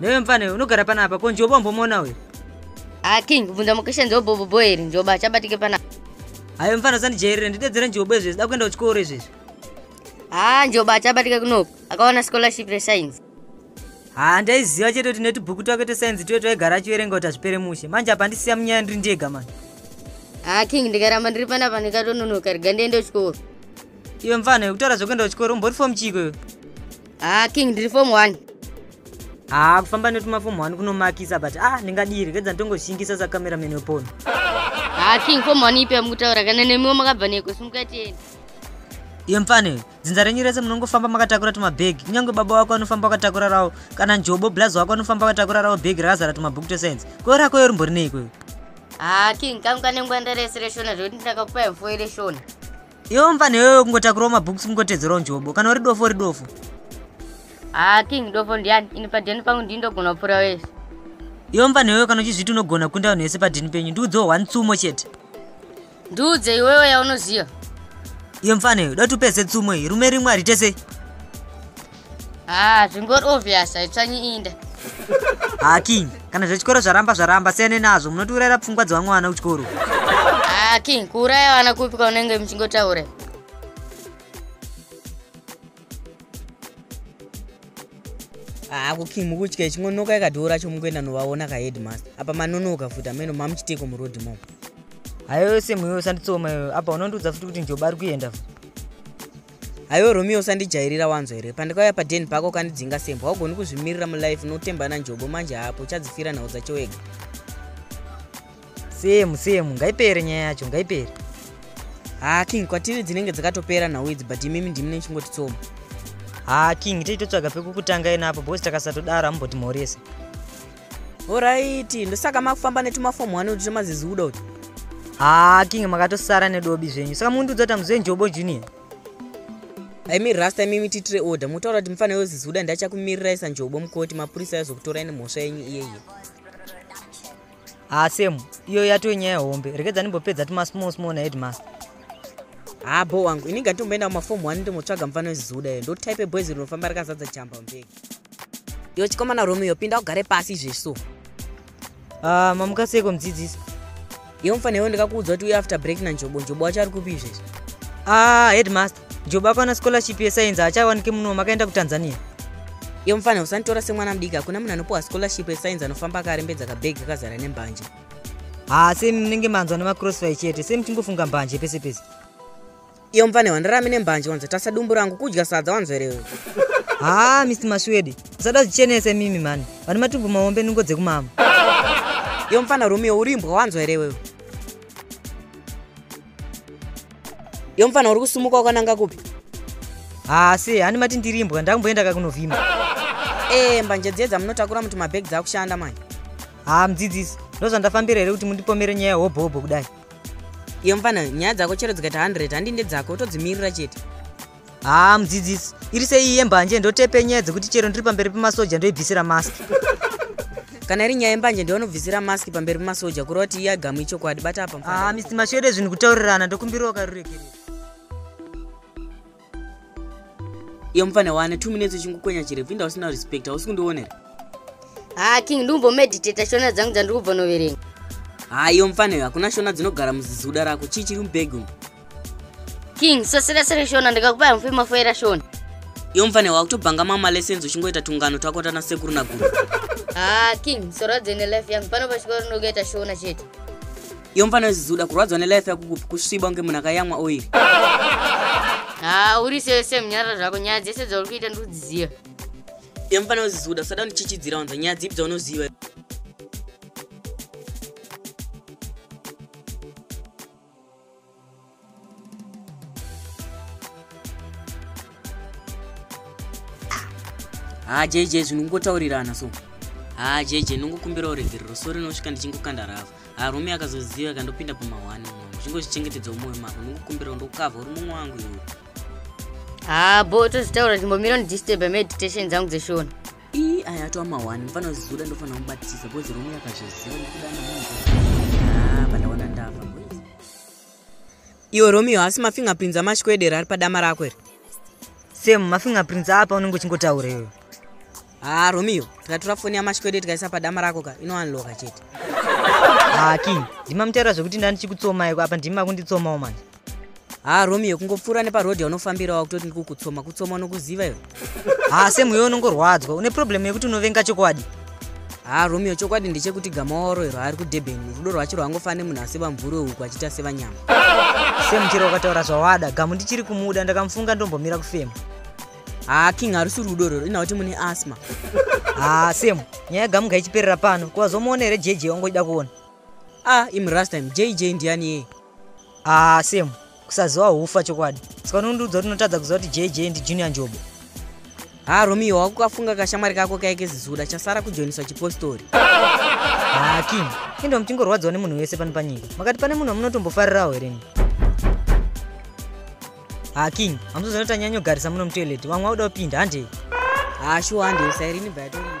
newe mfana uyu unogara pana apa ko njoba umbomuona uyu a ah, king bvunza mukesha njobobobo here njoba achabatike pana hayo mfana usandijairire ndidedzere njobo izvezvi da kuenda kuchikoro izvezvi haa ah, njoba achabatike kunoku akawana scholarship rescience haa ah, ndaiziva chete kuti netibhuku twake twescience tuye twaigara achiverenga kuti hazvipere mushe manje apa ndisiya munyaya ndiri ndega mani haa king ndikaramba ndiri panapa ndikatononoka riga ndiende kuchikoro iwe mfana yekutaura zvekuenda kuchikoro umbori fom chiiko iwe haa ah, king ndiri fom one haa ah, kufamba netuma fom one kunomakisa but a ah, ndingadii rekedza ndongoshingisa sacameraman wepono haa king fom one ipi yamukutaura kana nemiwo makabva neko simukatienda iye mfane dzinza renyu rese munongofamba makatakura tumabhegi kunyange baba wako anofamba akatakura rawo kana njobo blazi wako anofamba akatakura rawo bhegi rakazara tumabhuku twescience koo rako yo rimbori neiko haa king kangu kanengwanda rese reshona zvekuti ndakakupa mfo ireshona iwe mfana iwewe kungotakurawo mabooks kungotedzerawo njobo kana uri dofo uri dofo haa ah, king dofo ndiani ini padheni pangu ndii ndogona kupfuura wese iwe mfana iwewe kana uchizviti unogona kunda vanhu vese padheni penyu ndiudzewo one tsumo chete ndiudze iwewe yaunoziva iwe mfana iwe dati upedze tsumo iyi rume rimwe haritesei haa ah, zvingori obvious haitsvanyi inda haa king kana zvechikoro zvaramba zvaramba siyane nazvo munotiurayira pfungwa dzevamwana kuchikoro haa ah, king kuuraya vana kupi kwaunenge muchingotaura hakuki mukutya ichingonoka yakadhora cho mukuenda novaona kaheadmaster apa manonoka futi ameno mamuchiteko muroad mo hayo yose mweyo sanditsoma yoyo apa unondiudza futi kuti njoba ari kuenda futi haiwe romeo usandijairira wanzwa here pandikauya paden pako ukandidzinga sembwa haugoni kuzvimirira mulife unotembana njobo manje haapo uchadzifira nhau dzacho wega semu semu ngaipere nyaya yacho ngaipere haa king kwatiri dzinenge dzakatopera nhau idzi but imimi ndimi nechingotitsoma haa king tei totsvaga pekukutanga ina apo bhosi takasatodaro amumboti mhorese horaiti ndosaka makufamba netumafomu wani uti tomaziziuda uti haa king makatosara nedobi zvenyu saka mundiudza kuti amuzve njobo junior aimi rasta imimi tiitire order mutaura kuti mufanira yoziziuda ndachakumirira isa njobo mukoti mapurisa yazokutorai nemhosva yenyu iyeye haa semu iyo yatoo nyaya hombe rekedzani mbopedza tumasmall small naheadmaster haa bo wangu ini ngatomboenda kumafomu wani ndomotsvaga mufana yoziziuda iyo ndotype boys rinofamba rakazadza chamba mbega Yo chikomana Romeo pinda ugare pasi izvezvo. Ah, mamuka seko mudzidzisi. Yo mfana iwe ndikakuudza kuti uye after break na Njobo, Njobo wacho ari kupi izvezvo? Ah, headmaster, Njobo akawana scholarship ye science achawanike muno makaenda ku Tanzania. Yo mfana usanditora semwana mudiki hakuna munhu anopiwa scholarship ye science anofamba akarembedza ka bag kakazara nembanje. Ah, same munenge manzwa nema crossfire chete, same tingofunga mbanje pese pese. iyo mvane wandirami nembanje wanzotasa dumbu rangu kudya sadza wanzwerewe haa ah, misi mashwedi usada zvichenese mimi mani vane matumbu maombe nungo dzekumama iyo mfana romeo urimbwa wanzwerewewe iyo mfana uri kusumuka wakananga kupi haasi ah, hani mati ndirimbwa ndakumboenda kakunovhima ee eh, mbanje dziedza munotakura muti mabhegi dzakushanda manje haa ah, mudzidzisi ndozvandafambira here kuti mundipomere nyaya hobhohobho kudai iye mfana nyaya dzako chero dzikaita 100 handi ndedzako utodzimirira chete haa mudzidzisi iri seiyi yembanje ndotepe nyaya dzekuti chero ndiri pamberi pemasoja ndoibvisira mask kana iri nyaya yembanje ndiwanobvisira mask pamberi pemasoja kureva kuti iye agamu ichokwadi bata apa mfana haa misi mashore zvinhu kutaurirana ndokumbirawo karuregerero iye mupfane wane two minutes uchingukwenya chirefu inda usina respect hausi kundionera haa king ndikumbomeditata shona dzangu dzandiri kubva noverenga haa iyo mufane hakuna shona dzinogara muzizuda rako chii chiri mubhegi umu king sasira sere shona ndikakupaya mufi mafoera shona iyo mufane wakutobhanga mama lessons uchingoita tungano twako tana sekuru naguru haa king sora dzene life yangu pano pachikoro ndikuita shona chete iyo mfana wezizuda kurwadzwa nelife yako kupi kusviba kunge munhu akayamwa oiri haa uri sese munyara zvako nyaya dzese dzauri kuita ndiri kudziziva iyo mfana wezizuda usada undichichidzira wanza nyaya dzipi dzaunoziva haa jj zvinhu kungotaurirana so haa jj ndongokumbira uregerero so rinosvika ndichingokanda rava haa rumi akazoziva ikandopinda pamahwani mwangu chingozvichengetedza umoyo mako ndongokumbirawo ndokukavha uri mumwe wangu iwe haa bo tozvitaura ndimbomira ndidisturbe meditation dzangu dzeshona ii aya atova mahwani mfana uzizoda ndofanira kubatisa bhozi rumi akazoziva ndikuda namunhu haa pandaona ndava iwe romeo haasi mafingerprints amashikwede here ari padama rako here same mafingerprints apa unenge uchingotaura iyoyo haa romeo tikatora foni yamashikwede tikaisa padama rako ka inowanloka chete haa king ndimamutaura zvekuti ndandichikutsomai apa ndimi makunditsomawo manje haa romeo kungopfuura neparodhi yaunofambirawo kutoti ndikukutsoma kutsoma unokuziva iwe haa semu iwe unongorwadzwa une problem yekuti unovenga chokwadi haa romeo chokwadi ndechekuti gama waoroerwa ari kudurban rudo rwacho rwangofana nemunhu aseba mvuri weuku achiita sevanyama semu chero ukataura zvawada gamu ndichiri kumuda ndakamufunga ndombomira kufema haa king harusi rudo rwero ina kuti mune asma haa semu nyaya gamu ngaichiperera pano kuvazomuona here jj wangoida kuona a ah, imrastime jj ndiyani yeye haa semu kusaziwa hufa chokwadi saka unondiudza kuti unotadza kuziva kuti jj ndi junior njobo ha romeo wako kafunga kashamwari kako kaike zizuda chasara kujoiniswa chipostori ha king endo muchingorwadziwa nemunhu wese pano panyika makati pane munhu amunotombofarirawo here ni ha king hamuzoziva kuti anyanyogarisa muno mutoilet vamwe vauda kupinda hande ha shuwa hande usairini bhayatorira